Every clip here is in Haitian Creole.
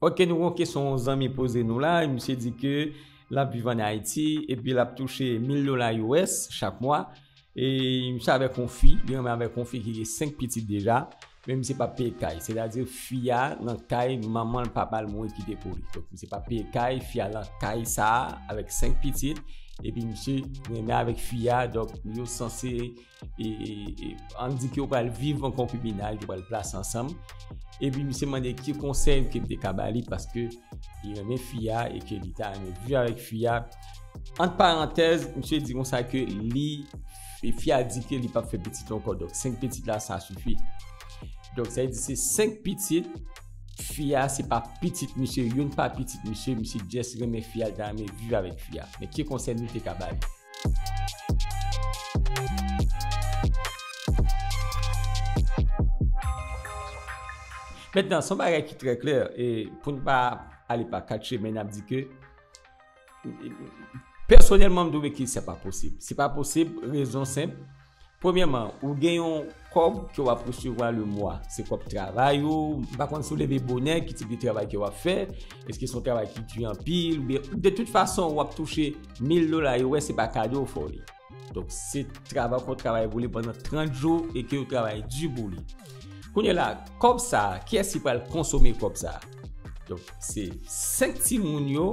Ok nou gen yon kesyon yon zanmi poze nou la, misye di ke lap viv an Ayiti epi lap touche 1000 dola US chak mwa e misye avèk yon fi, li renmen avèk yon fi ki gen 5 pitit deja, men misye pap peye kay, sètadi fi a nan kay manmanl papal mouri kite pou li, donk misye pap peye kay, fi a nan kay sa avèk 5 pitit epi misye renmen avèk fi a donk yo sanse. e an di ki ou pral viv an konpibinaj, ou pral plas ansanm, e pi misye mande ki konsey ou ke mte kabali, paske li renmen fia, e ke li ta renmen viv avèk fia, ant parantèz, misye di konsa ke li, e fia di ke li pap fè pitit ankò, donk 5 pitit la sa sifi, donk sa vle di se 5 pitit, fia se pa pitit misye, youn pa pitit misye, misye just renmen fia, li ta renmen viv avèk fia, men ki konsey nou te ka bay. Mentnan, son bagay ki trè klè, e pou n pa ale pa kat chemen, n ap di ke, pèsonèlman m twouve ke se pa posib. Se pa posib, rezon senp. Premyèman, ou gen yon kòb ke wap resevwa le mwa. Se kòb travay ou, m pa konn si w leve bonè, ki tip de travay ke wap fè, eske se yon travay ki di anpil, oubyen, de tout fason wap touche 1000 dola, yo wè se pa kado ou fè w li. Donk, se travay ou fè, ou travay pou li pandan 30 jou e ke ou travay di pou li. Kounye la, kòb sa, kiyès ki pral konsome kòb sa? Donk se 5 ti moun yo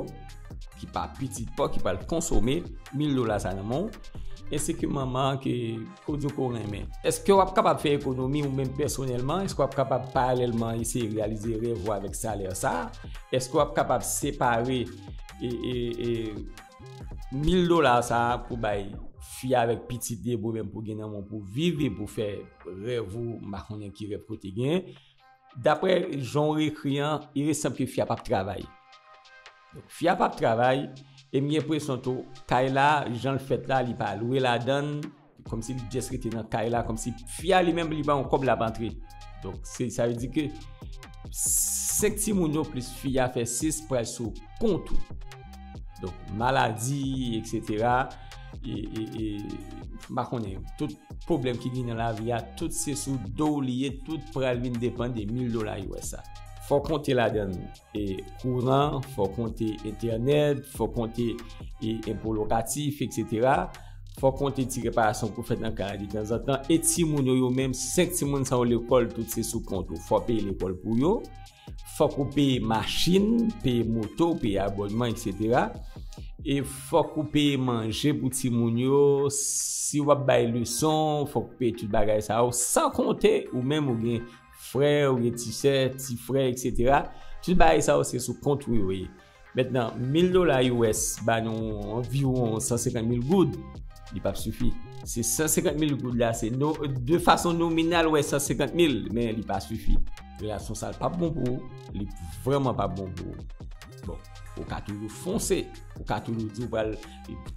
ki pa pitit pa ki pral konsome 1000 dola sa nan moun. E se ke manman ke kodyo ko renmen. Eske wap kapab fè ekonomi ou menm pèsonèlman? Eske wap kapab paralèlman eseye realize rèv ou avèk salè sa? Eske wap kapab separe 1000 dola sa pou bay fi a avèk pitit li e pou ou menm pou gen nan moun pou viv e pou fè rèv ou? M pa konnen ki rèv kote gen. Daprè jan w ekri an, iresanb ke fi a pap travay. Fi a pap travay, e m gen enpresyon tou, kay la, jan l fèt la, li pa lwe ladan l, kòmsi li just rete nan kay la, kòmsi fi a li menm li pa yon kòb l ap antre. Donk, se sa vle di ke 5 timoun yo plis fi a fè 6 pral sou kont ou. Donk maladi, eksetera, e, e, e, m pa konnen, tout pwoblèm ki vin nan lavi a, tout se sou do w li ye, tout pral vin depann de 1000 dola US a. Fò w konte ladan l, e, kouran, fò w konte entènèt, fò w konte, e, enpo lokatif, eksetera, fò w konte ti reparasyon pou w fè nan kay la detanzantan, e timoun yo yo menm, 5 timoun sa yo lekòl, tout se sou kont ou, fò w peye lekòl pou yo. fòk ou peye machin, peye moto, peye abònman etc. E fòk ou peye manje pou ti moun yo, si wap bay leson, fòk ou peye tout bagay sa yo, san konte ou menm ou gen frè, ou gen ti sè, ti frè etc. Tout bagay sa yo se sou kont ou yo ye. Mentnan, mil dola US ba nou anviwon 150 mil goud, li pap sifi. Se 150 mil goud la, se no, de fason nominal wè 150 mil, men li pa sifi. Relasyon sa l pap bon pou ou, li vrèman pap bon pou ou. Bon, ou ka toujou fonse, ou ka toujou di ou pral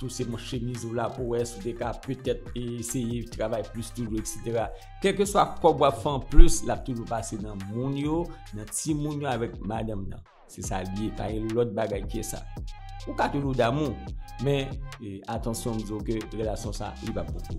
touse manch chemiz ou la pou wè si w te ka petèt eseye travay plis toujou eksetera. Kèlkeswa kòb w ap fè anplis, l ap toujou pase nan moun yo, nan timoun yo avèk madanm nan. Se sa li ye, pa gen lòt bagay ke sa. Ou ka toujou damou, men atansyon m di w ke relasyon sa li pa pou ou.